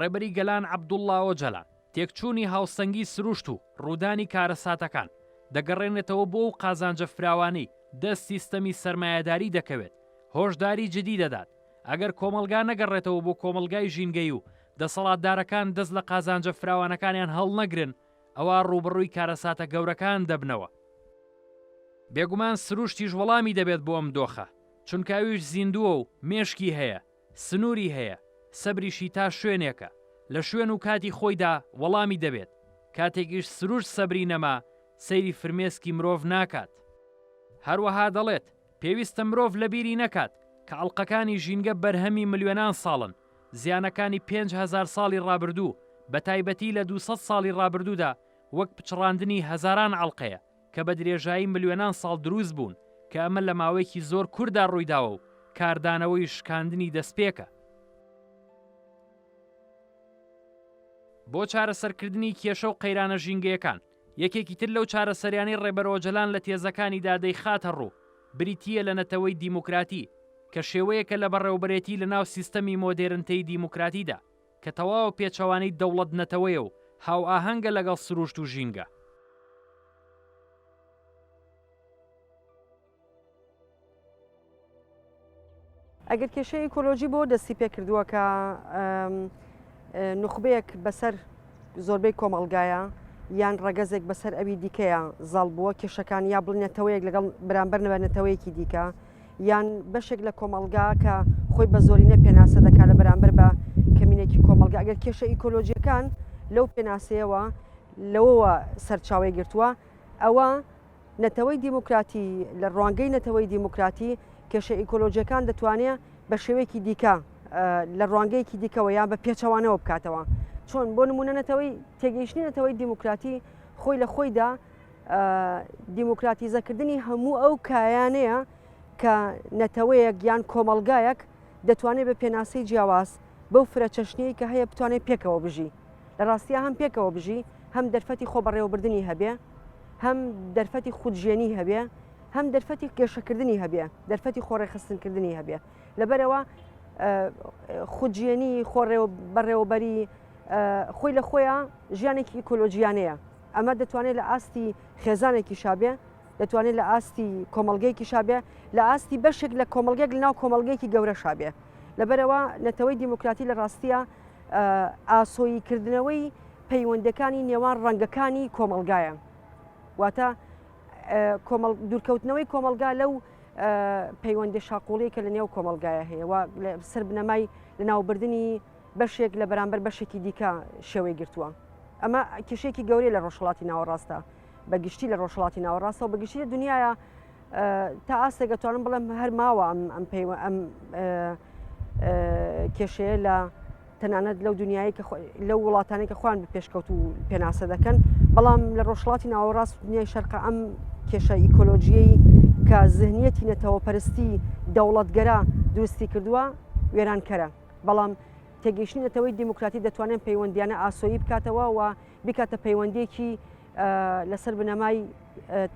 ڕێبەری گەلان عەبدوڵڵا ئۆجەلان تێکچوونی هاوسەنگی سروشت و ڕوودانی کارەساتەکان دەگەڕێنێتەوە بۆ ئەو قازانجە فراوانەی دە سیستەمی سەرمایەداری دەکەوێت هۆشداری جدی دەدات ئەگەر کۆمەلگا نەگەڕێتەوە بۆ کۆمەلگای ژینگەی و دەسەڵاتدارەکان دەست لە قازانجە فراوانەکانیان هەڵنەگرن، ئەوا ڕووبەڕووی کارەساتە گەورەکان دەبنەوە. بێگومان سروشتیش وەڵامی دەبێت بۆ ئەم دۆخە، چونکە ئەویش زیندووە و مێشکی هەیە، سنووری هەیە، سەبریشی تا شوێنێکە، لە شوێن و کاتی خۆیدا وەڵامی دەبێت، کاتێکیش سروشت سەبری نەما، سەیری فرمێسکی مرۆڤ ناکات. هەروەها دەڵێت، پێویستە مرۆڤ لەبیری نەکات، کە ئەڵقەکانی ژینگە بەرهەمی ملیۆنان ساڵن، زیانەکانی پێنج هەزار ساڵی ڕابردوو، بەتایبەتی لە دوو سەد ساڵی ڕابردوودا، وەک پچڕاندنی هەزاران ئەڵقەیە کە بە درێژایی ملیۆنان ساڵ دروست بوون، کە ئەمە لە ماوەیەکی زۆر کورتدا ڕوویداوە و کاردانەوەی شکاندنی دەستپێکە. بۆ چارەسەرکردنی کێشە و قەیرانە ژینگەیەکان، یەکێکی تر لەو چارەسەریانەی ڕێبەر ئۆجەلان لە تێزەکانیدا دەیخاتە ڕوو، بریتییە لە نەتەوەی دیموکراتی، کە شێوەیەکە لە بەڕێوەبرێتی لەناو سیستەمی مۆدێرنتەی دیموکراتیدا، کە تەواو پێچەوانەی دەوڵەت-نەتەوەیە و هاوئاهەنگە لەگەڵ سروشت و ژینگە. ئەگەر کێشەی ئیکۆلۆژی بۆ دەستی پێکردووە کە نخبەیەک بەسەر زۆربەی کۆمەڵگایە یان ڕەگەزێک بەسەر ئەوی دیکەیە زاڵ بووە کێشەکان یا بڵنێتەوەیەک لەگەڵ برامبەر نەبەرنەتەوەیەکی دیکە یان بەشێک لە کۆمەلگا کە خۆی بە زۆرینە پێناسە دەکات لە بەرامبەر بە کەمینێکی کۆمەلگا ئەگەر کێشە ئیکۆلۆژیەکان لەو پێناسەیەوە لەوەوە سەرچاوی گرتووە ئەوە نەتەوەی دیموکراتی، لە ڕوانگەی نەتەوەی دیموکراتی کێشە ئیکۆلۆژیەکان دەتوانێت بە شێوەیەکی دیکە لە ڕوانگەیەکی دیکەوە یان بە پێچەوانەوە بکاتەوە چۆن بۆ نمونە نەتەوەی تێگەیشتنی نەتەوەی دیموکراتی خۆی لە خۆیدا دیموکراتیزەکردنی هەموو ئەو کایانەیە کە نەتەوەیەک یان کۆمەلگایەک دەتوانێت بە پێناسەی جیاواز بەو فرە چەشنەیە کە هەیە بتوانێت پێکەوە بژی لە ڕاستیە هەم پێکەوە بژی هەم دەرفەتی خۆ بەڕێوەبردننی هەبێ هەم دەرفەتی خودژێنی هەبێ هەم دەرفەتی گەشەکردنی هەبێ دەرفەتی خۆڕێخستنکردنی هەبێ لەبەرەوە خودژێنی خۆڕێ بەڕێوەبەری خۆی لە خۆیان ژیانێکی ئیکۆلۆژیانەیە ئەمە دەتوانێت لە ئاستی خێزانێکی شابێ دەتوانێت لە ئاستی کۆمەلگەیەکی شابێ لە ئاستی بەشێک لە کۆمەلگەێک لە ناو کۆمەلگەیەکی گەورە شابێ لەبەرەوە نەتەوەی دیموکراتی لە ڕاستیە ئاسۆیی کردنەوەی پەیوەندەکانی نێوان ڕەنگەکانی کۆمەلگایە واتە دوورکەوتنەوەی کۆمەلگا لەو پەیوەندی شاقۆڵی کە لە نێو کۆمەلگایە هەیە و سەر بنەمای لە ناوبردننی بەشێک لە بەرامبەر بەشێکی دیکە شێوەی گرتووە ئەمە کێشێکی گەورەی لە ڕۆژهڵاتی ناوەڕاستە بە گشتی لە ڕۆژهڵاتی ناوەڕاستەوە بە گشتی لە دنیاە تا ئاستێک ئەتوانم بڵێم هەر ماوە ئەم ئەم پێیوە ئەم کێشەیە لە تەنانەت لەو دنیای کە لەو وڵاتانی کە خوان پێشکەوت و پێناسە دەکەن بەڵام لە ڕۆژهڵاتی ناوەڕاست دنیای شەرق ئەم کێشە ئیکۆلۆژیەی کە زهنیەتی نەتەوە پەرستی دەوڵەتگەرا دروستی کردووە وێرانکەرە بەڵام تێگەیشتنی نەتەوەی دیموکراتی دەتوانێت پەیوەندیانە ئاسۆیی بکاتەوە و بیکاتە پەیوەندیەکی لەسەر بنەمای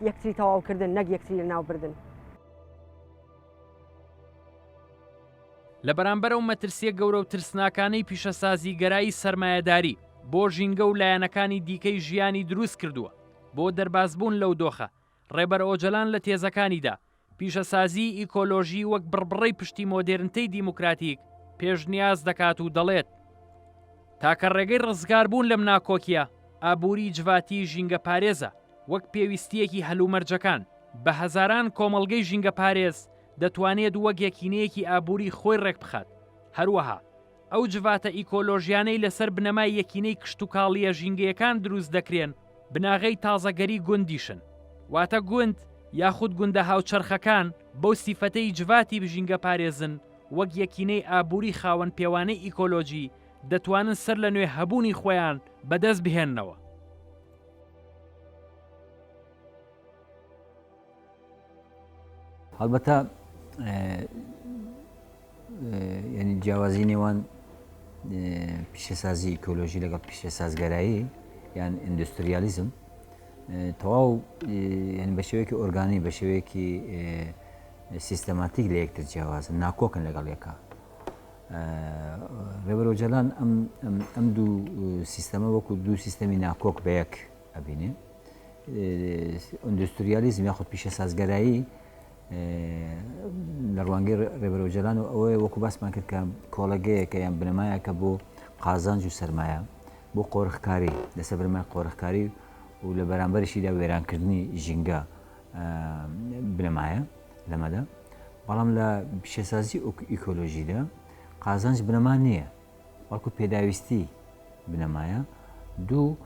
یەکتری تەواوکردن نەک یەکتری لە ناوبردن. لە بەرامبەر ئەو مەترسیە گەورە و ترسناکانەی پیشەسازیگەرایی سەرمایەداری بۆ ژینگە و لایەنەکانی دیکەی ژیانی دروست کردووە، بۆ دەربازبوون لەو دۆخە، ڕێبەر ئۆجەلان لە تێزەکانیدا، پیشەسازیی ئیکۆلۆژی وەک بڕبڕەی پشتی مۆدێرنتەی دیموکراتیک پێشنیاز دەکات و دەڵێت، تاکە ڕێگەی ڕزگاربوون لەم ناکۆکییە ئابووری جڤاتی ژینگەپارێزە، وەک پێویستییەکی هەلومەرجەکان، بە هەزاران کۆمەڵگەی ژینگەپارێز دەتوانێت وەک یەکینەیەکی ئابووری خۆی ڕێکبخات، هەروەها. ئەو جڤاتە ئیکۆلۆژیانەی لەسەر بنەمای یەکینەی کشتوکاڵییە ژینگەیەکان دروست دەکرێن بناغەی تازەگەری گوندیشن، واتە گوند یاخود گوندە هاوچەرخەکان بەو سیفەتەی جڤاتی ژینگەپارێزن وەک یەکینەی ئابووری خاوەن پێوانەی ئیکۆلۆژی دەتوانن سەر لە نوێ هەبوونی خۆیان بەدەست بهێننەوە. هەڵبەتە جیاوازی نێوان پیشەسازی ئیکۆلۆژی لەگەڵ پیشەسازگەرایی یان ئیندوستریالیزم تەواو یعنی بە شێوەیەکی ئۆرگانی بە شێوەیەکی سیستەماتیک لە یەکتر جیاوازن ناکۆکن لەگەڵ یەکە ڕێبەرۆجلان ئەم دوو سیستەمە وەکو دوو سیستەمی ناکۆک بە یەک ئەبینێ ئۆندستریالیزم یاخود پیشە سازگەرایی لە ڕوانگەی ڕێبەرۆجلان و ئەوەیە وەکو باسمان کرد کە کۆڵەگەیەکە یان بنەمایەکە بۆ قازانج و سرمایە بۆ قۆرخکاری لەسەر بنەمای قۆرخکاری و لە بەرامبەرشیدا وێرانکردنی ژینگە بنەمایە لەمەدا بەڵام لە پیشەسازی ئیکۆلۆژیدا قازانج بنەما نییە بەڵکو پێداویستی بنەمایە دوو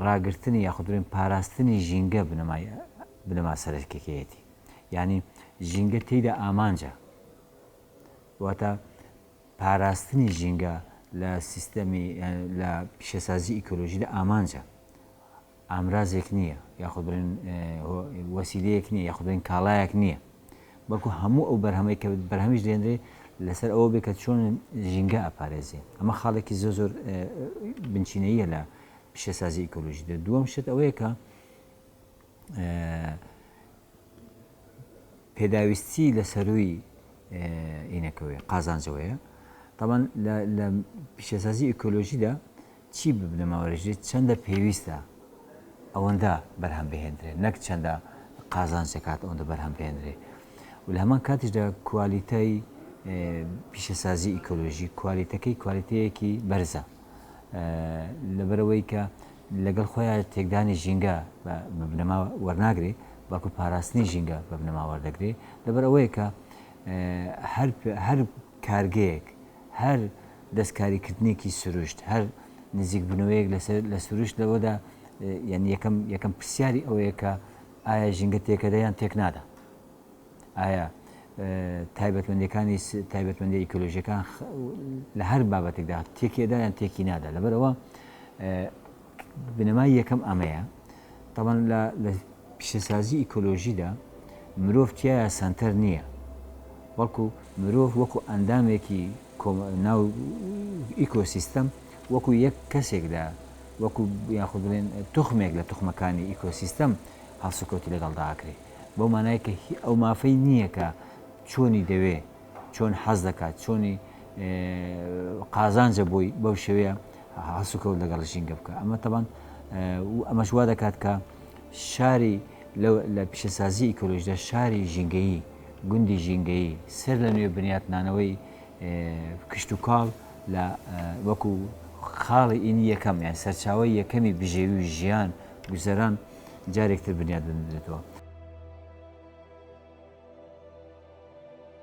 ڕاگرتنی یاخود بڵێن پاراستنی ژینگە بنەمای بنەما سەرەکیەکەیەتی یعنی ژینگە تێیدا ئامانجە واتە پاراستنی ژینگە لە سیستەمی لە پیشەسازی ئیکۆلۆژیدا ئامانجە ئامرازێک نییە یاخود بڵێن وەسیلەیەک نییە یاخودێن کاڵایەک نییە بەڵکو هەموو ئەو بەرهەمەی کە بەرهەمیش دێنرێ لەسەر ئەوە بێ کە چۆن ژینگە ئەپارێزێ ئەمە خاڵێکی زۆر زۆر بنچینەیە لە پیشەسازی ئیکۆلۆژی دە دووەم شت ئەوەیە کە پێداویستی لە سەروی ئینەکەوەی قازانجەوەیە تاوان لە پیشەسازی ئیکۆلۆژیدا چی ببنەماورژێت چەندە پێویستە ئەوەندە بەرهەم بهێندرێت نەک چەندە قازانجەکات ئەوەندە بەرهەم بهێندرێ و لە هەمان کاتیشدا کوالیتای پیشەسازی ئیکۆلۆژی کوالیتەکەی کوالیتەیەکی بەرزە لەبەرەوەی کە لەگەڵ خۆیان تێکدانی ژینگە بنەما وەرناگرێ بەڵکو پاراستنی ژینگە بە بنەما وەردەگرێ لەبەر ئەوەیە کە هەر کارگەیەک هەر دەستکاریکردنێکی سروشت، هەر نزیکبوونەوەیەک لە سروشت لەوەدا یانی یەکەم پرسیاری ئەوەیە کە ئایا ژینگە تێکەدە یان تێکنادا؟ ئایا تایبەتمەندیەکانی تایبەتمەندی ئیکۆلۆژیەکان لە هەر بابەتێکدا تێکێدا یان تێکینادا؟ لەبەرئەوە بنەمای یەکەم ئەمەیە، تابان لە لە پیشەسازی ئیکۆلۆژیدا مرۆڤ تیایا سەنتەر نییە، بەڵکو مرۆڤ وەکو ئەندامێکی کۆم ناو ئیکۆسیستەم وەکو یەک کەسێک دا وەکو یاخود بڵێن توخمێک لە توخمەکانی ئیکۆسیستەم هەڵسوکەوتی لەگەڵدا ئەکرێ بەو مانای کە هی ئەو مافەی نییە کە چۆنی دەوێ چۆن حەز دەکات، چۆنی قازانجە بۆی بەو شێوەیە هەڵسوکەوت لەگەڵ ژینگە بکە ئەمە تەبان و ئەمەش وا دەکات کە شاری لە پیشەسازی ئیکۆلۆژدا شاری ژینگەیی گوندی ژینگەیی سەر لە نوێ بنیاتنانەوەی کشتتوکاڵ لە وەکو خاڵی ئینی یەکەم یان سەرچاوی یەکەمی بژێوی و ژیان گوزەران جارێکتر بنیاد بنرێتەوە.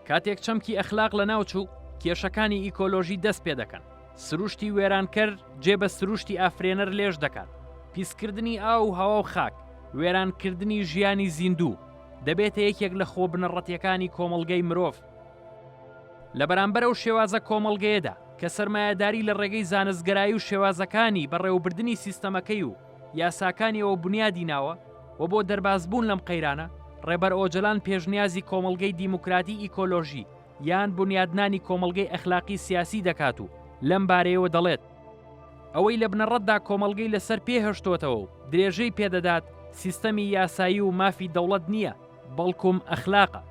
کاتێک چەمکی ئەخلاق لەناوچوو، کێشەکانی ئیکۆلۆژی دەست پێ دەکەن، سروشتی وێرانکەر جێ بە سروشتی ئافرێنەر لێژ دەکات، پیسکردنی ئاو و هەوا و خاک، وێرانکردنی ژیانی زیندوو، دەبێتە یەکێک لە خۆ بنەڕەتیەکانی کۆمەڵگەی مرۆڤ. لە بەرامبەر ئەو شێوازە کۆمەڵگەیەدا، کە سەرمایەداری لە ڕێگەی زانستگەرایی و شێوازەکانی بەڕێوەبردنی سیستەمەکەی و یاساکانیەوە بونیادی ناوە، و بۆ دەربازبوون لەم قەیرانە، ڕێبەر ئۆجەلان پێشنیازی کۆمەڵگەی دیموکراتی ئیکۆلۆژی یان بونیادنانی کۆمەڵگەی ئەخلاقی سیاسی دەکات و لەم بارەیەوە دەڵێت، ئەوەی لە بنەڕەتدا کۆمەڵگەی لەسەر پێ هەشتۆتەوە و درێژەی پێ دەدات سیستەمی یاسایی و مافی دەوڵەت نییە، بەڵکوم ئەخلاقە.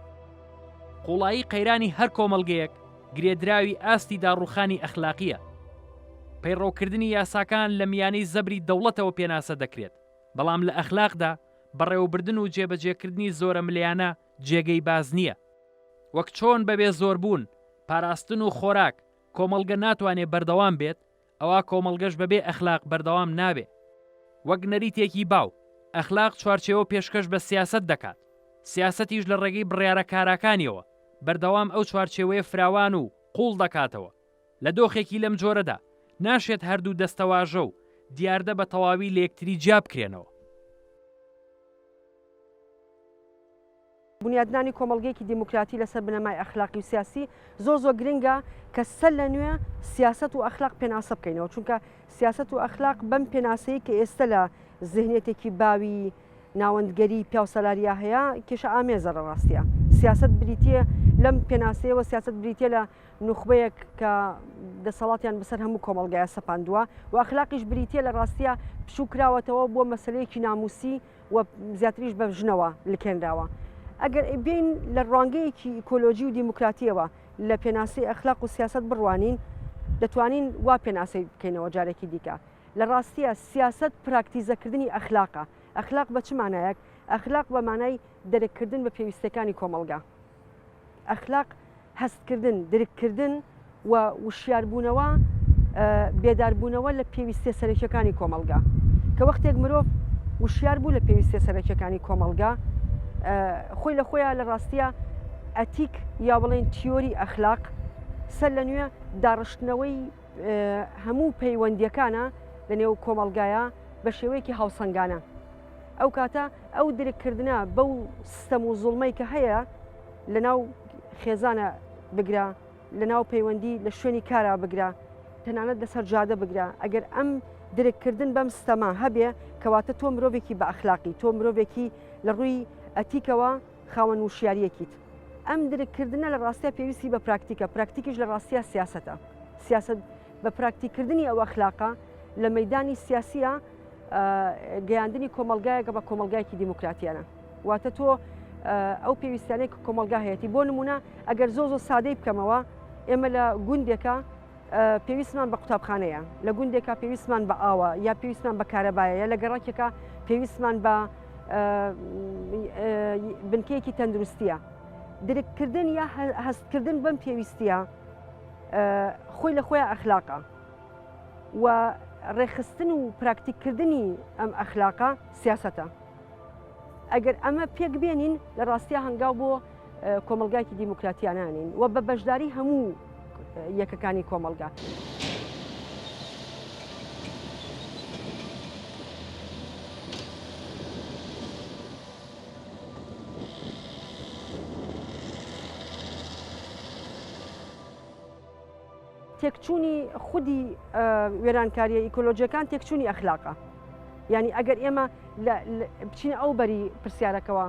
قوڵایی قەیرانی هەر کۆمەڵگەیەک گرێدراوی ئاستی داڕووخانی ئەخلاقییە. پەیڕەوکردنی یاساکان لە میانەی زەبری دەوڵەتەوە پێناسە دەکرێت. بەڵام لە ئەخلاقدا بەڕێوەبردن و جێبەجێکردنی زۆرەملێیانە جێگەی باس نییە. وەک چۆن بەبێ زۆربوون، پاراستن و خۆراک، کۆمەڵگە ناتوانێ بەردەوام بێت، ئەوا کۆمەڵگەش بەبێ ئەخلاق بەردەوام نابێ. وەک نەریتێکی باو، ئەخلاق چوارچێوە پێشکەش بە سیاسەت دەکات، سیاسەتیش لە ڕێگەی بڕیارە کاراکانییەوە، بەردەوام ئەو چوارچێوەیە فراوان و قووڵ دەکاتەوە لە دۆخێکی لەم جۆرەدا، ناشێت هەردوو دەستەواژە و دیاردە بە تەواوی لە یەکتری جیا بکرێنەوە. بونیادنانی کۆمەڵگەیەکی دیموکراتی لەسەر بنەمای ئەخلاقی و سیاسی زۆر زۆر گرنگە کە سەر لە نوێ سیاسەت و ئەخلاق پێناسە بکەینەوە، چونکە سیاسەت و ئەخلاق بەم پێناسەی کە ئێستە لە زهنیەتێکی باوی ناوەندگەری پیاوسالاریا هەیە کێشە ئامێزە لە ڕاستیا سیاسەت بریتیە لەم پێناسەیەوە سیاست بریتە لە نوخبەیەک کە دەسەڵاتیان بەسەر هەموو کۆمەلگایە سەپاندووە و ئەخلاقیش بریتە لە ڕاستە پشوو کراوەتەوە بۆ مەسلەیەکی ناموسی و زیاتریش بە ژنەوە لکێنراوە ئەگەر بین لە ڕوانگەیەکی ئیکۆلۆژی و دیموکراتیەوە لە پێناسی ئەخلاق و سیاست بڕوانین دەتوانین وا پێناسی بکەینەوە جارێکی دیکە لە ڕاستە سیاست پراکتیزەکردنی ئەخلاقە ئەخلاق بە چمانایەک ئەخلاق بە مانای دەرککردن بە پێویستەکانی کۆمەلگا ئەخلاق هەستکردن، درککردن و وشیاربوونەوە، بێداربوونەوە لە پێویستیە سەرەکیەکانی کۆمەڵگا، کە وەختێک مرۆڤ وشیار بوو لە پێویستیە سەرەکیەکانی کۆمەڵگا خۆی لە خۆیان لە ڕاستیە ئەتیک یا بڵێن تیۆری ئەخلاق سەر لە نوێ داڕشتنەوەی هەموو پەیوەندیەکانە لە نێو کۆمەلگایە بە شێوەیەکی هاوسەنگانە ئەو کاتە ئەو درککردە بەو سستەم و زوڵمەی کە هەیە لەناو خێزانە بگرە لەناو پەیوەندی لە شوێنی کارا بگرە تەنانەت لەسەر جادە بگرە ئەگەر ئەم درککردن بەم ستەما هەبێ کەواتە تۆ مرۆڤێکی بە ئەخلاقی تۆ مرۆڤێکی لە ڕووی ئەتیکەوە خاوەن وشیاریەکیت ئەم درککردە لە ڕاستە پێویستی بە پراکتیکە پراکتیکیش لە ڕاستە سیاستە سیاست بە پراکتیکردنی ئەو ئەخلاقە لە مەدانی سیاسیە گەیاندنی کۆمەلگایەکە بە کۆمەلگایکی دیموکراتیانە واتە تۆ ئەو پێویستانێک کۆمەلگا هەیەی بۆ نمونە ئەگەر زۆ زۆ سادەی بکەمەوە ئێمە لە گوندێکە پێویستمان بە قوتابخانەیە لە گوندێکا پێویستمان بە ئاوە یا پێویستمان بە کارەبایە لە گەڕکێکە پێویستمان بە بنکەیەکی تەندروستیە درککردن یا هەستکردن بەم پێویستە خۆی لە خۆیان ئەخلاقە و ڕێکخستن و پراکتیک کردنی ئەم ئەخلاقە سیاسەتە ئەگەر ئەمە پێک بێنین لە ڕاستیا هەنگاو بۆ کۆمەلگایکی دیموکراتیانانین و بە بەشداری هەموو یەکەکانی کۆمەلگا. تێکچوونی خودی وێرانکاریە ئیکۆلۆژیەکان تێکچوونی ئەخلاقە یعنی ئەگەر ئێمە بچینە ئەو بەری پرسیارەکەەوە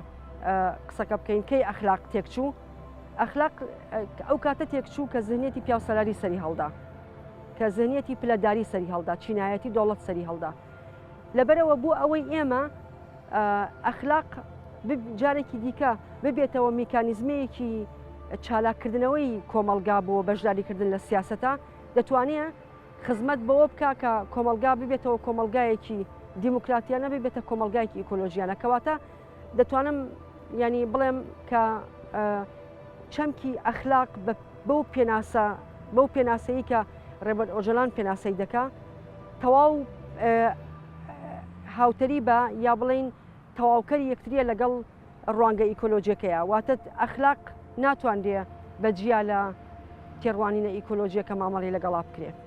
قسەکە بکەین کەی ئەخلاق تێکچوو ئەخلاق ئەو کاتە تێکچوو کە زنیەتی پیاوسەلاری سەری هەڵدا کە زنیەتی پلەداری سەری هەڵدا چینایەتی دەوڵەت سەری هەڵدا لەبەرئەوە بۆ ئەوەی ئێمە ئەخلاق جارێکی دیکە ببێتەوە میکانیزمەیەکی چالاککردنەوەی کۆمەلگا بۆ بەشداریکردن لە سیاستە دەتوانێت خزمەت بەوە بکە کە کۆمەلگا ببێتەوە کۆمەلگایەکی دیموکراتیانە ببێتە کۆمەلگایکی ئیکۆلۆژیانە کەواتە دەتوانم یانی بڵێم کە چەمکی ئەخلاق بەو پێناسە بەو پێناسەیە کە ڕێبەر ئۆجلان پێناسەی دەکا تەواو هاوتەری بە یا بڵین تەواوکەری یەکتریە لەگەڵ ڕوانگە ئیکۆلۆژیەکەیە واتە ئەخلاق ناتوانرێ بە جیا لە تێڕوانینە ئیکۆلۆژیەکە مامەڵی لەگەڵا بکرێت.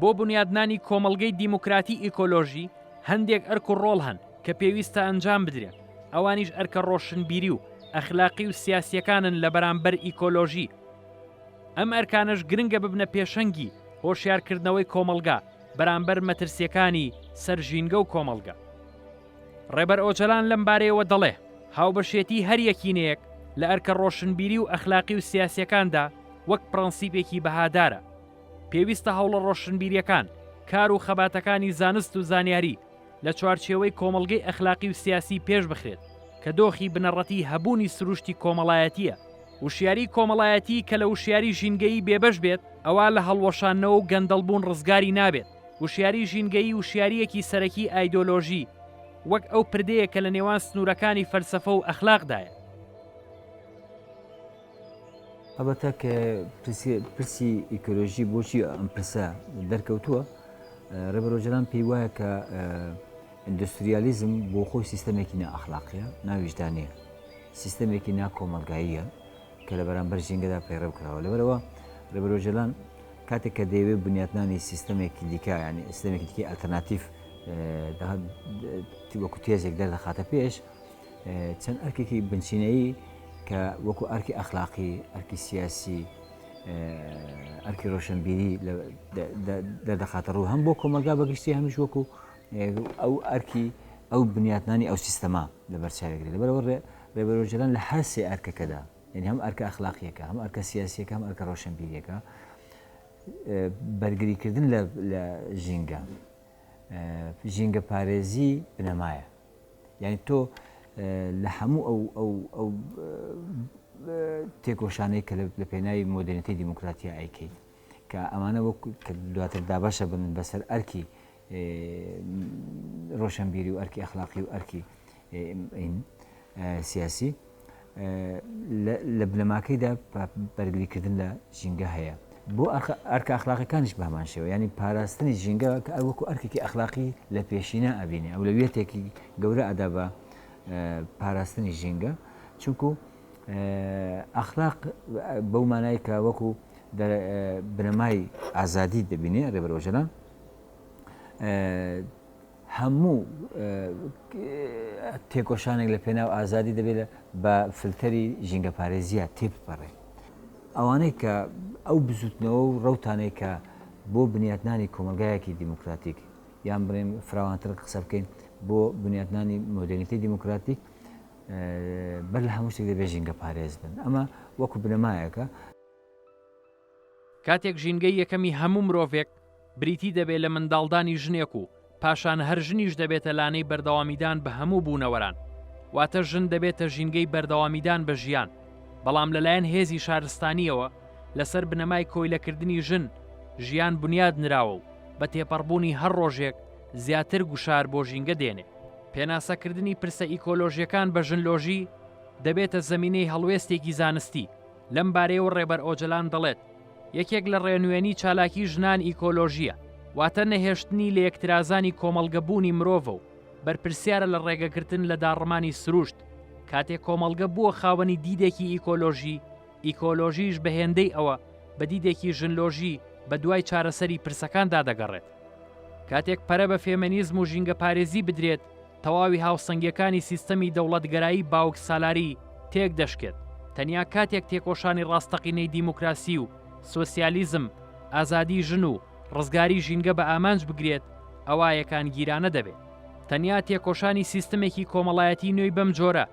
بۆ بنیادنانی کۆمەڵگەی دیموکراتی ئیکۆلۆژی هەندێک ئەرک و ڕۆڵ هەن کە پێویستە ئەنجام بدرێت ئەوانیش ئەرکە ڕۆشنبیری و ئەخلاقی و سیاسیەکانن لە بەرامبەر ئیکۆلۆژی ئەم ئەرکانەش گرنگە ببنە پێشەنگی هۆشیارکردنەوەی کۆمەڵگا بەرامبەر مەترسیەکانی سەر ژینگە و کۆمەڵگە ڕێبەر ئۆجەلان لەم بارەیەوە دەڵێ، هاوبەشێتی هەر یەکینەیەک لە ئەرکە ڕۆشنبیری و ئەخلاقی و سیاسیەکاندا وەک پڕەنسیپێکی بەهادارە. پێویستە هەوڵە ڕۆشنبیریەکان، کار و خەباتەکانی زانست و زانیاری لە چوارچێوەی کۆمەڵگەی ئەخلاقی و سیاسی پێش بخرێت کە دۆخی بنەڕەتی هەبوونی سروشتی کۆمەڵایەتیە. وشیاری کۆمەڵایەتی کە لە وشیاری ژینگەیی بێبەش بێت ئەوا لە هەڵوەشاندنەوە و گەندەڵبوون ڕزگاری نابێت. وشیاریی ژینگەیی وشیارییەکی سەرەکی ئایدۆلۆژی، وەک ئەو پردێیە کە لە نێوان سنوورەکانی فەلسەفە و ئەخلاقدایە. هەڵبەتە کە پرسی ئیکۆلۆژی بۆچی ئەم پرسە دەرکەوتووە، ڕێبەر ئۆجەلان پێی وایە کە ئیندۆستریالیزم بۆ خۆی سیستەمێکی نائەخلاقییە، ناویژدانەیە، سیستەمێکی ناکۆمەڵگاییە، کە لە بەرامبەر ژینگەدا پەیڕەو کراوە لەبەرەوە ڕێبەر ئۆجەلان کاتێک کە دەیەوێت بنیاتنانی سیستەمێکی دیکە ینی سیستەمێکی دیکەی ئەلتەرناتیف وەکو تێزێک دەردەخاتە پێش چەند ئەرکێکی بنچینەیی کە وەکو ئەرکی ئەخلاقی ئەرکی سیاسی ئەرکی ڕۆشنبیری دەردەخاتە ڕوو هەم بۆ کۆمەلگا بەگشتی هەمیش وەکو ئەو ئەرکی ئەو بنیاتنانی ئەو سیستەما لە بەرچاوێکری لەبەرەوە رێبەر ئۆجەلان لە هەر سێ ئەرکەکەدا، یانی هەم ئەرکە ئەخلاقییەکە، هەم ئەرکە سیاسییەکە، هەم ئەرکە رۆشنبیرییەکە، بەرگریکردن لە ژینگە، ژینگەپارێزی بنەمایە. یانی تۆ لە هەموو ئەو تێکۆشانەی کە لە پێناوی مۆدێرنیتەی دیموکراتیا ئەیکەیت، کە ئەمانە وەک کە دواتر دابەشە بن بەسەر ئەرکی ڕۆشەنبیری و ئەرکی ئەخلاقی و ئەرکی سیاسی لە بنەماکەیدا بەرگریکردن لە ژینگە هەیە بۆ ئەرکە ئەخلاقەکانش بەمان شێوە ینی پاراستنی ژینگە کە ئەوەکو ئەرکێکی ئەخلاقی لە پێشینە ئەبینێ ئەو لە وێتێکی گەورە ئەدا بە پاراستنی ژینگە چونکو ئەخلاق بەو مانایکە وەکو بنەمای ئازادی دەبینێ ڕێبەرۆژەلان هەموو تێکۆشانێک لە پێناو ئازادی دەبێت بە فلتەری ژینگەپارێزیە تێپەڕێ ئەوانەی کە ئەو بزوتنەوە و ڕوتانەی کە بۆ بنیاتنانی کۆمەلگایەکی دیموکراتیک یان بڵێن فراوانتر قسە بکەین بۆ بنیاتنانی مۆدرنیتی دیموکراتیک بەر لە هەموو شتێک دەبێت ژینگە پارێز بن ئەمە وەکو بنەمایەکە کاتێک ژینگەی یەکەمی هەموو مرۆڤێک بریتی دەبێت لە منداڵدانی ژنێک و پاشان هەر ژنیش دەبێتە لانەی بەردەوامیدان بە هەموو بوونەوەران، واتە ژن دەبێتە ژینگەی بەردەوامیدان بە ژیان، بەڵام لەلایەن هێزی شارستانییەوە لەسەر بنەمای کۆیلەکردنی ژن ژیان بنیاد نراوە و بە تێپەڕبوونی هەر ڕۆژێک زیاتر گوشار بۆ ژینگە دێنێ. پێناسەکردنی پرسە ئیکۆلۆژییەکان بە ژنلۆژی دەبێتە زەمینەی هەڵوێستێکی زانستی، لەم بارەیەوە ڕێبەر ئۆجەلان دەڵێت، یەکێک لە ڕێنوێنی چالاکی ژنان ئیکۆلۆژییە، واتە نەهێشتنی لەیەکترازانی کۆمەڵگە بوونی مرۆڤە و بەرپرسیارە لە ڕێگەگرتن لە داڕمانی سروشت، کاتێ کۆمەڵگە بووە خاوەنی دیدێکی ئیکۆلۆژی، ئیکۆلۆژیش بە هێندەی ئەوە بە دیدێکی ژنلۆژی بە دوای چارەسەری پرسەکاندا دەگەڕێت. کاتێک پەرە بە فێمێنیزم و ژینگەپارێزی بدرێت، تەواوی هاوسەنگیەکانی سیستەمی دەوڵەتگەرایی باوک سالاری تێک دەشکێت، تەنیا کاتێک تێکۆشانی ڕاستەقینەی دیموکراسی و سۆسیالیزم، ئازادی ژن و ڕزگاری ژینگە بە ئامانج بگرێت ئەوا یەکانگیرانە دەبێت. تەنیا تێکۆشانی سیستمێکی کۆمەڵایەتی نوێی بەم جۆرە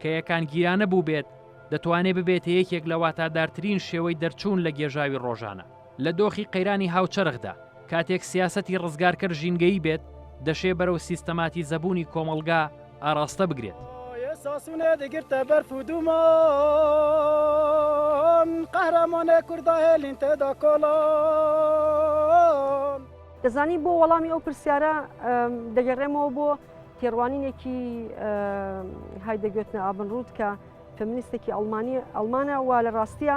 کە یەکانگیرانە بووبێت دەتوانێت ببێتە یەکێک لە واتادارترین شێوەی دەرچوون لە گێژاوی ڕۆژانە. لە دۆخی قەیرانی هاوچەرخدا، کاتێک سیاسەتی ڕزگارکەر ژینگەیی بێت، دەشێ بەرەو سیستەماتیزەبوونی کۆمەڵگا ئاراستە بگرێت. دەزانی بۆ وەڵامی ئەو پرسیارە دەگەڕێمەوە بۆ تێڕوانینێکی هایدەگۆتنە ئابنرود کە فەمینیستێکی ئەڵمانیە ئەڵمانە و لە ڕاستیە،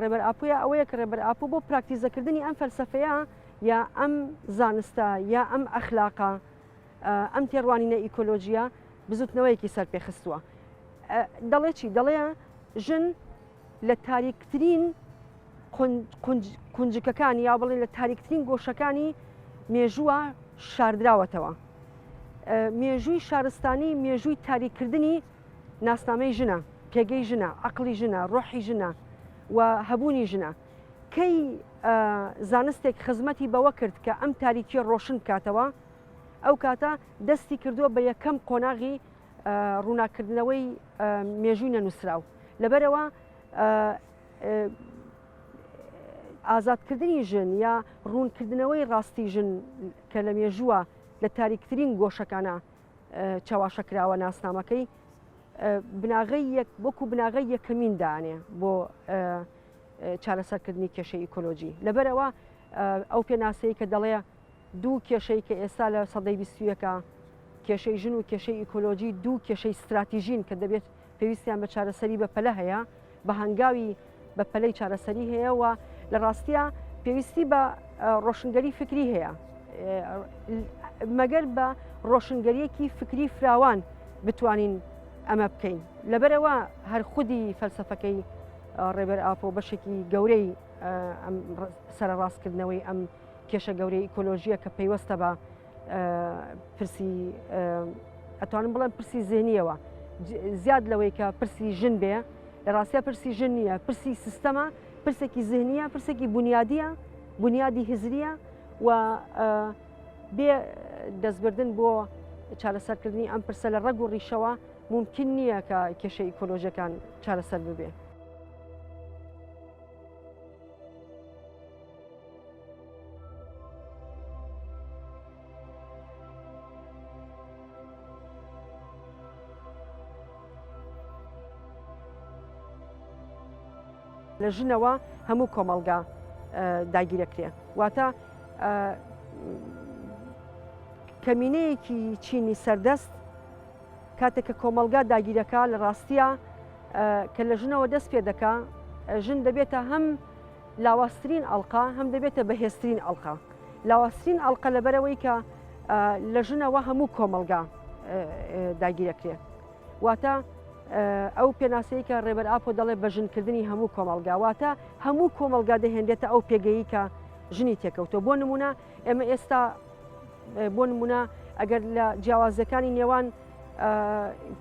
ڕێبەر ئاپۆیە ئەوەیە کە ڕێبەر ئاپۆ بۆ پراکتیزەکردنی ئەم فەلسەفەیە یا ئەم زانستە یا ئەم ئەخلاقە ئەم تێڕوانینە ئیکۆلۆژیە بزوتنەوەیەکی سەر پێخستووە دەڵێ چی دەڵێ ژن لە تاریکترین کونجکەکانی یا بڵێن لە تاریکترین گۆشەکانی مێژووە شاردراوەتەوە مێژووی شارستانی مێژووی تاریکردنی ناسنامەی ژنە، پێگەی ژنە، عەقڵی ژنە، ڕۆحی ژنە و هەبوونی ژنە. کەی زانستێک خزمەتی بەوە کرد کە ئەم تاریکیە ڕۆشن بکاتەوە، ئەو کاتە دەستی کردووە بە یەکەم قۆناغی ڕووناککردنەوەی مێژووی نەنووسراو. لەبەرەوە ئازادکردنی ژن یا ڕوونکردنەوەی ڕاستی ژن کە لە مێژووە لە تاریکترین گۆشەکانە چەواشەکراوە ناسنامەکەی بناغی یەک وەکو بناغی یەکەمین دانێ بۆ چارەسەرکردنی کێشە ئیکۆلۆژی لەبەرەوە ئەو پێناسەی کە دەڵێ دوو کێشەی کە ئێستا لە سەدەی بیستویەکە کێشەی ژن و کێشەی ئیکۆلۆژی دوو کێشەی استراتیژین کە دەبێت پێویستیان بە چارەسەری بەپەلە هەیە، بە هەنگاوی بەپەلەی چارەسەری هەیە و لە ڕاستیە پێویستی بە ڕۆشنگەری فکری هەیە مەگەر بە ڕۆشنگەریەکی فکری فراوان بتوانین ئەمە بکەین لەبەرەوە هەر خودی فەلسفەکەی ڕێبەر ئاپۆ بەشێکی گەورەی سەرڕاستکردنەوەی ئەم کێشە گەورەی ئیکۆلۆژیە کە پەیوەستە بە پرسی ئەتوانم بڵێن پرسی زیێنیەوە زیاد لەوەی کە پرسی ژن بێ لە ڕاستە پرسی ژن نییە پرسی سیستەمە پرسێکی زیهنیە پرسێکی بنیادیە بنیادی هزریە و بێ دەستبردن بۆ چارەسەرکردنی ئەم پرسە لە ڕەگ و ڕیشەوە ممکن نییە کە کێشە ئیکۆلۆژەکان چارەسەر ببێ. لە ژنەوە هەموو کۆمەلگا داگیرەکرێ واتە کەمینەیەکی چینی سەردەست کاتێک کە کۆمەلگا داگیرەکە لە ڕاستە کە لە ژنەوە دەست پێ دەکا ژن دەبێتە هەم لاوازترین ئەڵقە هەم دەبێتە بەهێزترین ئەڵقە لاوازترین ئەڵقە لەبەرەوەی کە لە ژنەوە هەموو کۆمەلگا داگیرەکرێ واتە ئەو پێناسەی کە ڕێبەر ئاپۆ دەڵێ بە ژنکردنی هەموو کۆمەلگا واتە هەموو کۆمەلگا دەهێنێتە ئەو پێگەیی کە ژنی تێکەوتۆ بۆ نمونە ئێمە ئێستا بۆ نمونە ئەگەر لە جیاوازەکانی نێوان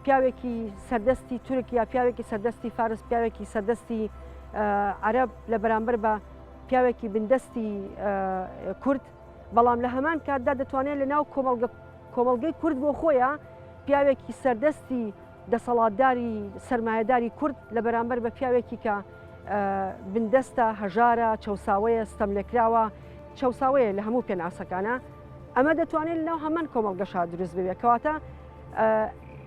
پیاوێکی سەردەستی تورک یا پیاوێکی سەردەستی فارس پیاوێکی سەردەستی عەرب لە بەرامبەر بە پیاوێکی بندەستی کورد بەڵام لە هەمان کاتدا دەتوانێت لە ناو کۆمەلگەی کورد بۆ خۆیان پیاوێکی سەردەستی دەسەڵاتداری سرمایهداری کورد لە بەرامبەر بە پیاوێکی کە بندەستە هەژارە چەساوەیە ستەم لێکراوە چەساوەیە لە هەموو پێناسەکانە ئەمە دەتوانێت لەناو هەمان کۆمەڵگەشا دروست ببێت کەواتە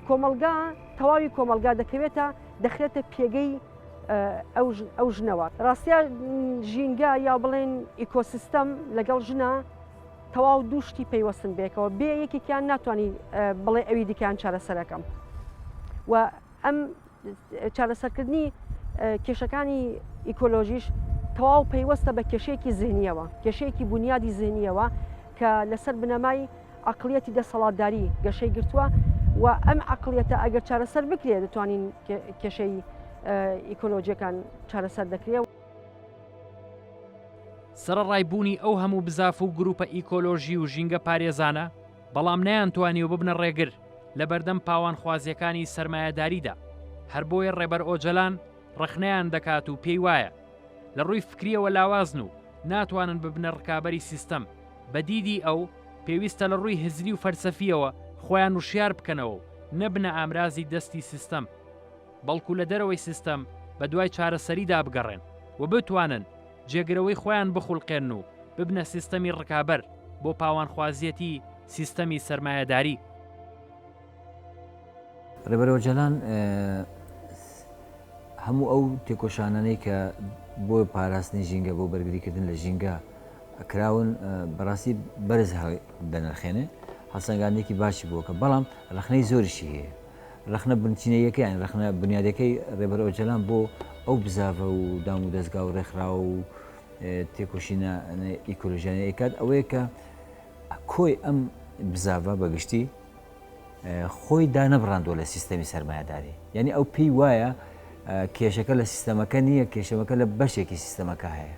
کۆمەلگا تەواوی کۆمەلگا دەکەوێتە دەخرێتە پێگەی ئەو ژنەوە ڕاستە ژینگە یا بڵێن ئیکۆسیستەم لەگەڵ ژنە تەواو دووشتی پەیوەستن بێکەوە بێ یەکێکیان ناتوانانی بڵێ ئەوی دیکان چارەسەرەکەم و ئەم چارەسەرکردنی کێشەکانی ئیکۆلۆژیش تەواو پەیوەستە بە کێشەیەکی زیهنیەوە کێشەیەکی بنیادی زیهنیەوە کە لەسەر بنەمای عقلیەتی دەسەڵاتداری گەشەی گرتووە و ئەم عقلیەتە ئەگەر چارەسەر بکرێت دەتوانین کێشەی ئیکۆلۆژیەکان چارەسەر دەکرێت. سەرەڕای بوونی ئەو هەموو بزاف و گروپە ئیکۆلۆژی و ژینگە پارێزانە، بەڵام نەیانتوانیوە ببنە ڕێگر لە بەردەم پاوانخوازییەکانی سەرمایەداریدا، هەر بۆیە ڕێبەر ئۆجەلان ڕەخنەیان دەکات و پێی وایە لە ڕووی فکرییەوە لاوازن و ناتوانن ببنە ڕکابەری سیستەم، بە دیدی ئەو، پێویستە لە ڕووی هزری و فەلسەفییەوە خۆیان وشیار بکەنەوە و نەبنە ئامرازی دەستی سیستەم. بەڵکو لە دەرەوەی سیستەم بە دوای چارەسەریدا بگەڕێن و بتوانن جێگرەوەی خۆیان بخولقێنن و ببنە سیستەمی ڕکابەر بۆ پاوانخوازیەتی سیستەمی سەرمایەداری. ڕێبەر ئۆجالان هەموو ئەو تێکۆشانانەی کە بۆ پاراستنی ژینگە بۆ بەرگریکردن لە ژینگە کراون بەڕاستی بەرز دەنرخێنێ هەڵسەنگاندێکی باشی بووکە بەڵام ڕخنەی زۆریشی هەیە ڕەخنە بنچینەییەکەیان، ڕەخنە بونیادەکەی ڕێبەر ئۆجەلان بۆ ئەو بزاڤە و دام و دەزگا و ڕێکخراو و تێکۆشینە ئیکۆلۆژیانە ئەیکات ئەوەیە کە کۆی ئەم بزاڤە بە گشتی خۆی دانەبڕاندوە لە سیستەمی سەرمایهداری یعنی ئەو پێی وایە کێشەکە لە سیستەمەکە نییە کێشەمەکە لە بەشێکی سیستەمەکە هەیە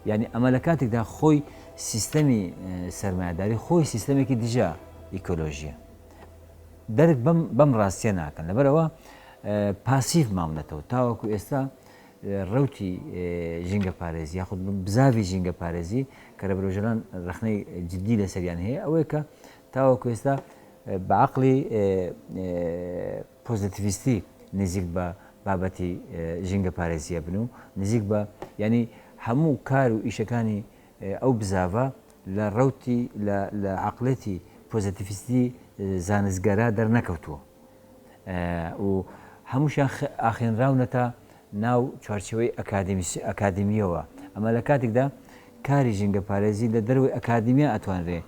یعنی ئەمە لە کاتێکدا خۆی سیستەمی سەرمایهداری خۆی سیستەمێکی دژە ئیکۆلۆژیە درک بەم بەم ڕاستیە ناکەن لەبەرەوە پاسیڤ ماونەتەوە تاوەکو ئێستا ڕوتی ژینگە پارێزی یاخود بزاوی ژینگە پارێزی کە لە برۆژەران ڕخنەی جددی لەسەریان هەیە ئەوەیە کە تاوەکو ئێستا بەعقلی پۆزیتیویستی نزیک بە بابەتی ژینگە پارێزیە بن و نزیک بە ینی هەموو کار و ئیشەکانی ئەو بزاڤە لە ڕەوتی لە لە عەقڵێتی پۆزەتیفیستی زانستگەرا دەرنەکەوتووە و هەمووشیان ئاخێنراونەتە ناو چوارچێوەی ئەکادیمیسی ئەکادیمیەوە ئەمە لە کاتێکدا کاری ژینگە پارێزی لە دەروی ئەکادیمیا ئەتوانرێ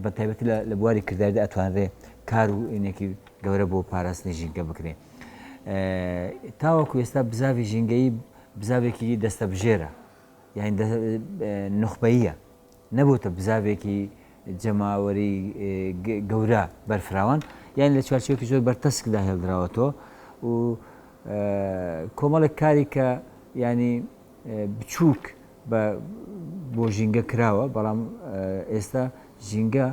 بە تایبەتی لە بواری کرداردا ئەتوانرێ کار و ئینێکی گەورە بۆ پاراستنی ژینگە بکرێ تاوەکو ئێستا بزاوی ژینگەی بزاوێکی دەستە بژێرە یانی دە نوخبەییە نەبۆتە بزاڤێکی جەماوەری گەورە بەرفراوان یانی لە چوارچێوەکی زۆر بەرتەسکدا هێڵدراوەتەوە و کۆمەڵێک کاری کە ینی بچووک بە بۆ ژینگە کراوە بەڵام ئێستا ژینگە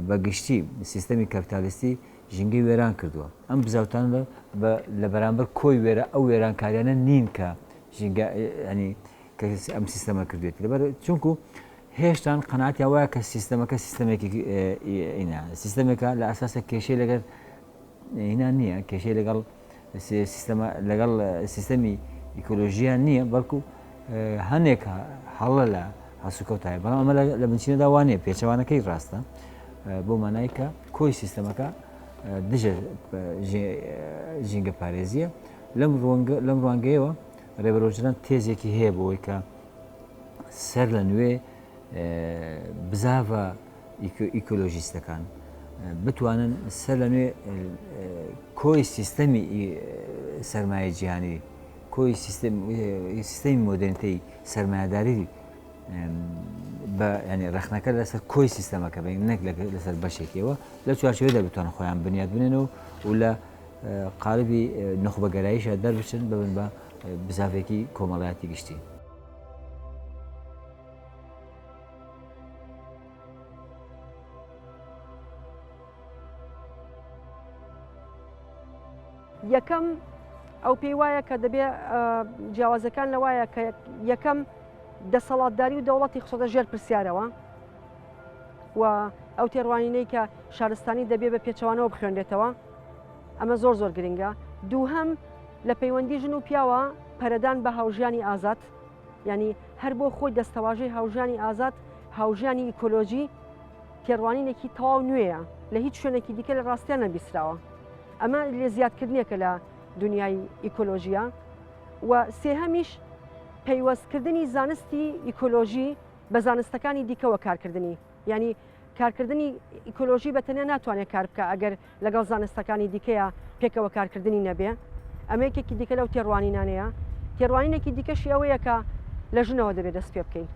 بەگشتی سیستەمی کەپتالیستی ژینگەی وێران کردووە ئەم بزاوتان لە بەرامبەر کۆی وێرە ئەو وێرانکاریانە نین کە ژینگە ینی کە ئەم سیستەمە کردێتی لەبەر چونکو هێشتان قەناتیان وایە کە سیستەمەکە سیستەمێکی ئینا سیستەمێکە لە ئاساسە کێشەی لەگەر هینا نییە کێشەی لەگەڵ سیستەمە لەگەڵ سیستەمی ئیکۆلۆژیان نییە بەڵکو هەنێک هەڵە لە هەسوکەوتای بەڵام ئەمە لە بنچینەدا وانە پێچەوانەکەی ڕاستە بۆ مانای کە کۆی سیستەمەکە دژە ژینگە پارێزیە لەم ڕوانگەیەوە رێبەر ئۆجلان تێزێکی هەیە بۆ ئەوەی کە سەر لە نوێ بزاڤە ئیکۆلۆژیستەکان بتوانن سەر لە نوێ کۆی سیستەمی سرمایە جیهانی کۆی سیستەمی مۆدرنتەی سرمایهداری بە ینی ڕخنەکە لەسەر کۆی سیستەمەکە بین نەک لەسەر بەشێکەوە لە چوارچێدا بتوان خۆیان بنیاد بنێن و و لە قالبی نوخبەگەراییشە دەربچن ببن بە بزاڤێکی کۆمەڵایەتی گشتی. یەکەم ئەو پێی وایە کە دەبێ جیاوازەکان لە وایە کە یەکەم دەسەڵاتداری و دەوڵەتی خسۆتە ژێر پرسیارەوە و ئەو تێڕوانینەی کە شارستانی دەبێ بە پێچوانەوە بخوێنێتەوە ئەمە زۆر زۆر گرنگە دووهەم لە پەیوەندی ژن و پیاوە پەرەدان بە هاوژانی ئازاد ینی هەر بۆ خۆی دەستەواژەی هاوژانی ئازاد هاوژانی ئیکۆلۆژی تێڕوانینێکی تەواو نوێیە لە هیچ شوێنێکی دیکە لە ڕاستیان نەبیسراوە ئەمە لێ زیادکردنێکە لە دنیای ئیکۆلۆژیە و سێهەمیش پەیوەستکردنی زانستی ئیکۆلۆژی بە زانستەکانی دیکەوە کارکردنی یانی کارکردنی ئیکۆلۆژی بە تەنیا ناتوانێت کار بکە ئەگەر لەگەڵ زانستەکانی دیکەیە پێکەوە کارکردنی نەبێ ئەمەیەکێکی دیکە لەو تێڕوانینانەیە تێڕوانینێکی دیکەشی ئەوەیەکە لە ژنەوە دەبێت دەست پێ بکەین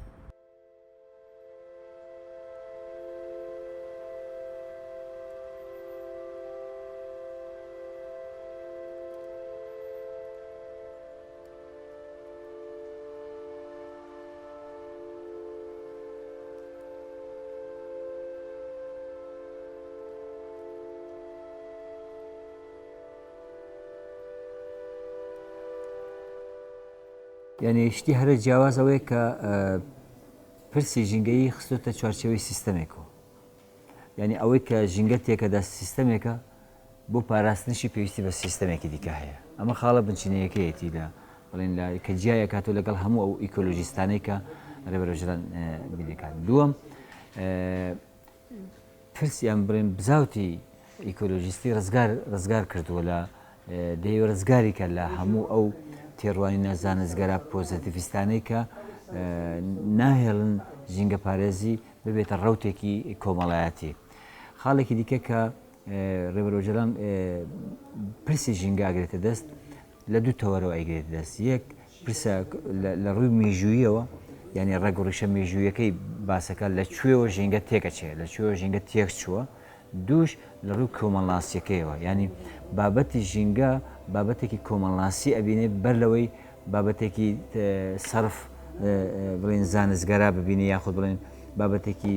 یعنی شتی هەرە جیاواز ئەوەیە کە پرسی ژینگەیی خستۆتە چوارچەوەی سیستەمێکەوە یعنی ئەوەی کە ژینگە تێکەدا سیستەمێکە بۆ پاراستنیشی پێویستی بە سیستەمێکی دیکە هەیە. ئەمە خاڵە بنچینەیەکەیەتی لە بەڵێن لا کە جیای ئەکاتەوە لەگەڵ هەموو ئەو ئیکۆلۆژیستانەی کە رێبەر ئۆجەلان بیر ئەکات. دووەم پرس یان بڵێن بزاوتی ئیکۆلۆژیستی رزگار رزگار کردووە لە دەیەوێت رزگاری کە لە هەموو ئەو تێڕوانینە زانستگەرا پۆزەتیڤیستانەی کە ناهێڵن ژینگەپارێزی ببێتە ڕەوتێکی کۆمەڵایەتی. خاڵێکی دیکە کە ڕێبەر ئۆجەلان پرسی ژینگە ئەگرێتە دەست لە دوو تەوەرەوە ئەیگرێتە دەست یەک پرسە لە ڕووی مێژوویەوە یعنی ڕێگ و ڕیشە مێژوویەکەی باسەکە لە کوێوە ژینگە تێکەچێ لە کوێوە ژینگە تێک چووە دووش لە ڕوو کۆمەڵناسیەکەیەوە ینی بابەتی ژینگە بابەتێکی کۆمەڵناسی ئەبینێ بەر لەوەی بابەتێکی سرف بڵێن زانستگەرا ببینی یاخود بڵێن بابەتێکی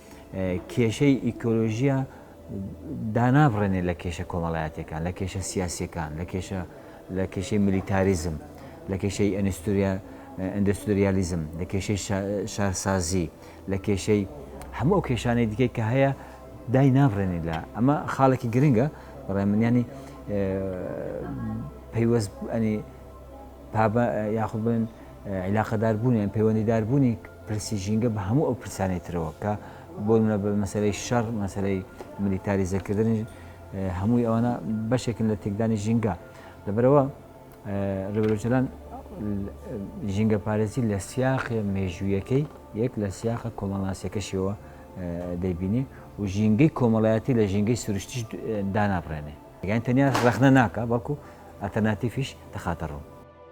کێشەی ئیکۆلۆژیە دانابڕێنێ لە کێشە کۆمەڵایەتەکان لە کێشە سیاسەکان لە کێشە لە کێشەی ملیتاریزم لە کێشەی ئەنستوریا ئەندستریالیزم لە کێشەی شارسازی لە کێشەی هەموو ئەو کێشانەی دیکەی کە هەیە دای نابڕێنی لە ئەمە خاڵێکی گرنگە بەڕێ منیانی پەیوەست ئەنی پابە یاخود بڵێن عیلاقەدار بوونیان پەیوەندیدار بوونی پرسی ژینگە بە هەموو ئەو پرسانەی ترەوە کە بۆ نمونە بە مەسەلەی شەڕ مەسەلەی ملیتاریزەکردن هەمووی ئەوانە بەشێکن لە تێکدانی ژینگە لەبەرەوە ڕێبەرۆجلان ژینگە پارێزی لە سیاخێ مێژوویەکەی یەک لە سیاخە کۆمەڵناسیەکەشیەوە دەیبینی و ژینگەی کۆمەڵایەتی لە ژینگەی سروشتیش دانابڕێنێ یان تەنیا ڕخنە ناکە بەڵکو ئەتەناتیفیش دەخاتە ڕوو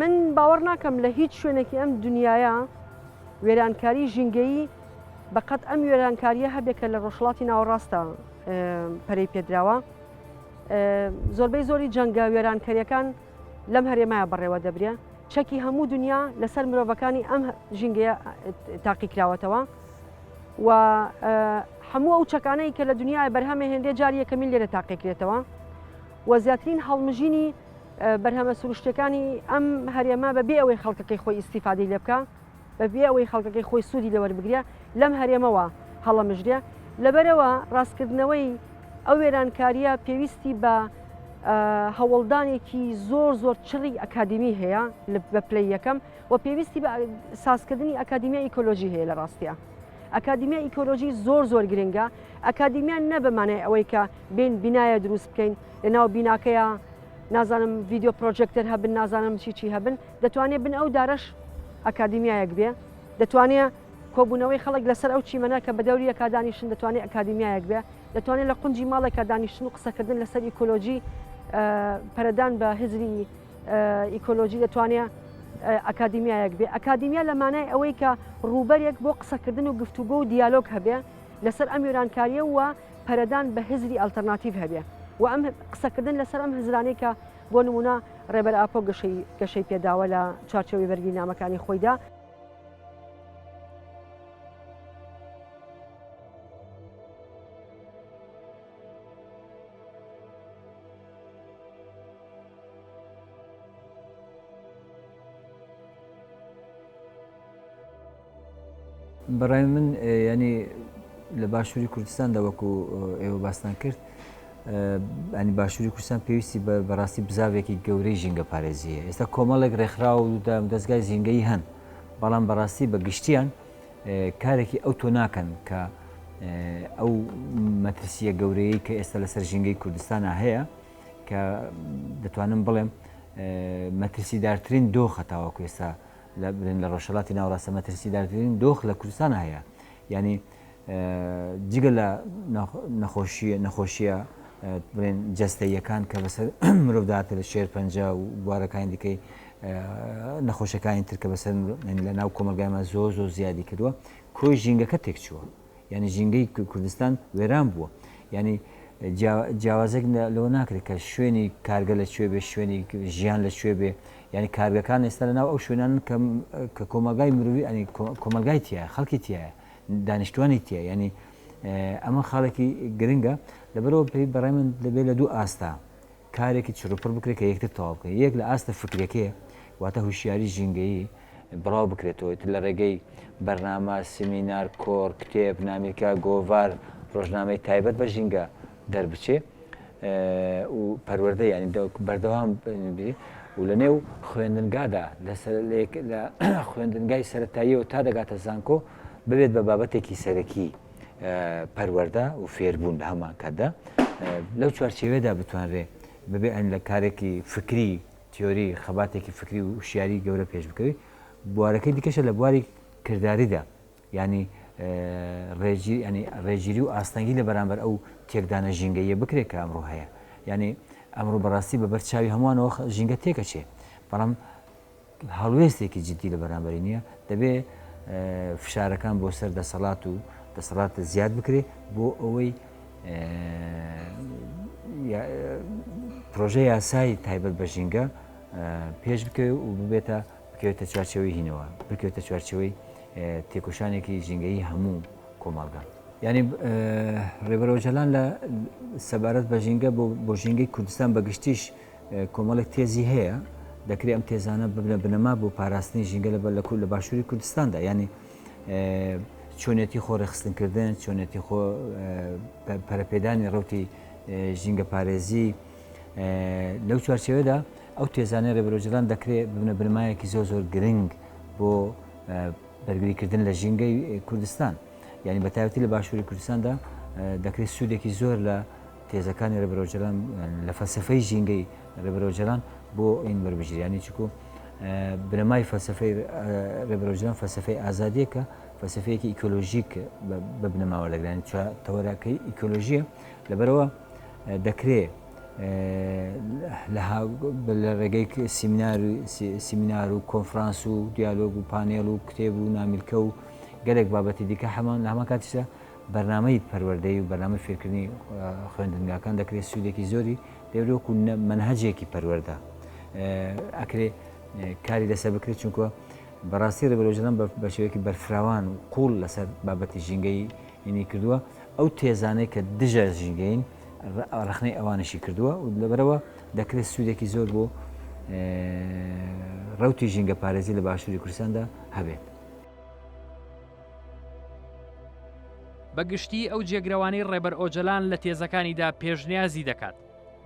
من باوەڕ ناکەم لە هیچ شوێنێکی ئەم دنیایە وێرانکاری ژینگەیی بەقەت ئەم وێرانکاریە هەبێت کە لە ڕۆژهڵاتی ناوەڕاستە پەرەی پێدراوە زۆربەی زۆری جەنگە وێرانکەریەکان لەم هەرێمایە بەڕێوە دەبرێ چەکی هەموو دنیا لەسەر مرۆڤەکانی ئەم ژینگەیە تاقی کراوەتەوە و هەموو ئەو چەکانەی کە لە دنیای بەرهەمە هێندێ جاریەکەمین لێرە تاقیکرێتەوە و زیاترین هەڵمژینی بەرهەمە سروشتیەکانی ئەم هەرێمە بە بێ ئەوەی خەڵکەکەی خۆی ئیسیفادی لێ بکە بە بێ ئەوەی خەڵکەکەی خۆی سوودی لەوەربگرە لەم هەرێمەوە هەڵەمژرێ لەبەرەوە ڕاستکردنەوەی ئەو وێرانکاریە پێویستی بە هەوڵدانێکی زۆر زۆر چڕی ئەکادمی هەیە بە پلی یەکەم و پێویستی بە سازکردنی ئەکادیمیا ئیکۆلۆژی هەیە لە ڕاستە ئەکادیمیا ئیکۆلۆژی زۆر زۆر گرنگە ئەکادیمیان نەبمانای ئەوەی کە بین بینایە دروست بکەین لە ناو بیناکەیە نازانم ڤیددیو پرۆژێکتەر هەبن نازانم چی چی هەبن دەتوانێت بن ئەو دارەش ئەکادیمیایەک بێ دەتوانێت کۆبوونەوەی خەڵک لەسەر ئەو چیمەە کە بە دەوریەکە دانیشتن دەتوانێت ئەکادیمیایەک بێ دەتوانێت لە قنجی ماڵێکە دانیشتن و قسەکردن لەسەر ئیکۆلۆژی پەرەدان بە هزری ئیکۆلۆژی دەتوانێت ئەکادیمیایەک بێ ئەکادیمیا لە مانای ئەوەی کە ڕووبەرێک بۆ قسەکردن و گفتوگۆ و دیالۆگ هەبێ لەسەر ئەم یۆرانکاریە و پەرەدان بە هزری ئەلتەرناتیڤ هەبێ و ئەم قسەکردن لەسەر ئەم هزرانەی کە بۆ نمونە ڕێبەر ئاپۆ گەشەی گەشەی پێداوە لە چارچەوەی بەرگی نامەکانی خۆیدا بەڕای من ینی لە باشووری کوردستاندا وەکو ئێوە باستان کرد ئەنی باشووری کوردستان پێویستی بە بەڕاستی بزاوێکی گەورەی ژینگە پارێزیە ئێستا کۆمەڵێک ڕێکخرا و دەستگای زینگەی هەن بەڵام بەڕاستی بە گشتیان کارێکی ئەو تۆ ناکەن کە ئەو مەترسیە گەورەیە کە ئێستا لەسەر ژینگەی کوردستانە هەیە کە دەتوانم بڵێم مەترسیدارترین دۆخە تاوەکو ئێستا لە برێن لە ڕۆژهەڵاتی ناوەڕاستە مەترسیدارترین دۆخ لە کوردستان هەیە ینی جگە لە نەخۆشی نەخۆشیە برێن جەستەیەکان کە بەسەر مرۆڤداتە لە شێر پەنجە و بوارەکانی دیکەی نەخۆشەکانی ترکە بەسەر لە ناو کۆمەلگایمە زۆر زۆر زیادی کردووە کۆی ژینگەکە تێکچووە یانی ژینگەی کوردستان وێران بووە یانی جیاوازێک لەوە ناکرێت کە شوێنی کارگە لە کوێ بێ شوێنی ژیان لە کوێ بێ یعنی کارگەکان ئێستا لە ناو ئەو شوێنان کە کۆمەلگای مروی ئەنی کۆمەلگای تایە خەڵکی تایە دانیشتوانی تایە ینی ئەمە خاڵێکی گرنگە لەبەرەوە پێی بەڕێ من دەبێت لە دوو ئاستا کارێکی چروپڕ بکرێت کە یەکتر تەواو بکەن، یەک لە ئاستە فکریەکەی واتە هوشیاری ژینگەیی بڵاو بکرێتەوە، ئیتر لە ڕێگەی بەرنامە، سیمینار، کۆڕ، کتێب، نامیلکە، گۆڤار، ڕۆژنامەی تایبەت بە ژینگە دەربچێ و پەروەردە یانی بەردەوام بێ و لە نێو خوێندنگادا لە خوێندنگای سەرەتاییەوە تا دەگاتە زانکۆ ببێت بە بابەتێکی سەرەکی. پەروەردە و فێربوون لە هەمان کاتدا لەو چوارچێوێدا بتوانرێ بەبێ ئەن لە کارێکی فکری تیۆری خەباتێکی فکری و شیاری گەورە پێش بکەوی بوارەکەی دیکەشە لە بواری کردداریدا ینی ڕێژی ئەنی ڕێژیری و ئاستەنگی لە بەرامبەر ئەو تێکدانە ژینگەیە بکرێت کە ئەمڕۆ هەیە ینی ئەمڕۆ بەڕاستی بە بەر چاوی هەمووانەوە ژینگە تێکەچێ بەڵام هەڵوێستێکی جدی لە بەرامبەری نییە، دەبێ فشارەکان بۆ سەر دەسەڵات و دەسەڵات زیاد بکرێ بۆ ئەوەی پرۆژە یاسای تایبەت بە ژینگە پێش بکەوێت و ببێتە بکەوێتە چوارچەوەی هینەوە بکەوێتە چوارچەوەی تێکۆشانێکی ژینگەی هەموو کۆمەڵگە ینی ڕێبەرۆژەلان لە سەبارەت بە ژینگە بۆ ژینگەی کوردستان بەگشتیش کۆمەڵێک تێزی هەیە، دەکرێ ئەم تێزانە ببنە بنەما بۆ پاراستنی ژینگە لە بەرلەکوو لە باشووری کوردستاندا یانی چۆنێتی خۆ ڕێخستنکردن چۆنێتی خۆ پەرەپێدانی ڕوتی ژینگە پارێزی لەو چوارچەوەدا ئەو تێزانە ڕێبرۆژران دەکرێت ببنە بنمایەکی زۆر زۆر گرنگ بۆ بەرگریکردن لە ژینگەی کوردستان یعنی بەتاوەتی لە باشووری کوردستاندا دەکرێت سوودێکی زۆر لە تێزەکانی ڕێبەر ئۆجەلان لە فەلسەفەی ژینگەی ڕێبەر ئۆجەلان بۆ ئین وەربگیرێ یانی چکۆ بنەمای فەلسەفەی ڕێبەر ئۆجەلان فەلسەفەی ئازادیە کە فەلسەفەیەکی ئیکۆلۆژیک بە بنەما وەردەگرانی چوار تەوەراکەی ئیکۆلۆژیە لەبەرەوە دەکرێ لە ڕێگەی سیمینار سیمینار و کۆنفرانس و دیالۆگ و پانێڵ و کتێب و نامیلکە و گەلێک بابەتی دیکە هەمان لە هەمان کاتیشدا بەرنامەی پەروەردەیی و بەرنامەی فێرکردنی خوێندنگاکان دەکرێت سوودێکی زۆری لێوری وەکو مەنهەجێکی پەروەەردە ئەکرێ کاری لەسەر بکرێت چونکە بەڕاستی ڕێبەرۆژەدان بە شێوەیەکی بەرفراوان و قوڵ لەسەر بابەتی ژینگەی هینی کردووە ئەو تێزانەی کە دژە ژینگەین ڕخنەی ئەوانشی کردووە و لەبەرەوە دەکرێت سوودێکی زۆر بۆ ڕوتی ژینگە پارێزی لە باشووری کوردستاندا هەبێت. بە گشتی ئەو جێگرەوانەی ڕێبەر ئۆجەلان لە تێزەکانیدا پێشنیازی دەکات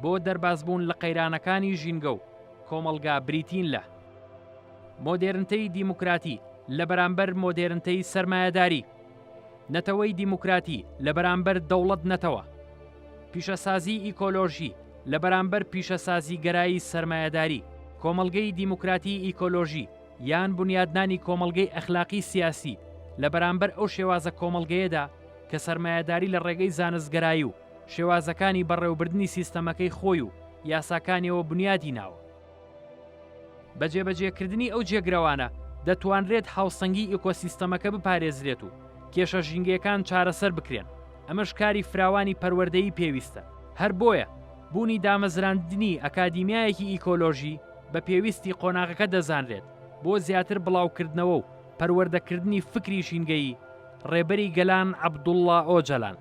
بۆ دەربازبوون لە قەیرانەکانی ژینگە و کۆمەڵگا بریتین لە مۆدێرنتەی دیموکراتی لە بەرامبەر مۆدێرنتەی سەرمایەداری نەتەوەی دیموکراتی لە بەرامبەر دەوڵەت نەتەوە پیشەسازی ئیکۆلۆژی لە بەرامبەر پیشەسازی گەرایی سەرمایەداری کۆمەلگەی دیموکراتی ئیکۆلۆژی یان بونیادنانی کۆمەڵگەی ئەخلاقی سیاسی لە بەرامبەر ئەو شێوازە کۆمەڵگەیەدا کە سەرمایەداری لە ڕێگەی زانستگەرایی و شێوازەکانی بەڕێوەبردنی سیستەمەکەی خۆی و یاساکانیەوە بونیادی ناوە. بە جێبەجێکردنی ئەو جێگرەوانە دەتوانرێت هاوسەنگی ئیکۆسیستەمەکە بپارێزرێت و کێشە ژینگەیەکان چارەسەر بکرێن، ئەمەش کاری فراوانی پەروەردەیی پێویستە، هەر بۆیە بوونی دامەزراندنی ئەکادیمیایەکی ئیکۆلۆژی، بە پێویستی قۆناغەکە دەزانرێت بۆ زیاتر بڵاوکردنەوە و پەروەردەکردنی فکری ژینگەیی، ڕێبەری گەلان عەبدوڵا ئۆجەلان.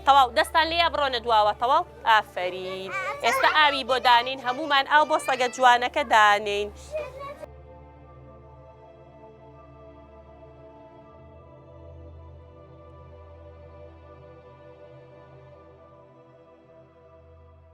تەواو دەستان لێیە بڕۆنە دواوە تەواو ئافەرین ئێستا ئاوی بۆ دانین هەمومان ئاو بۆ سەگە جوانەکە دانین.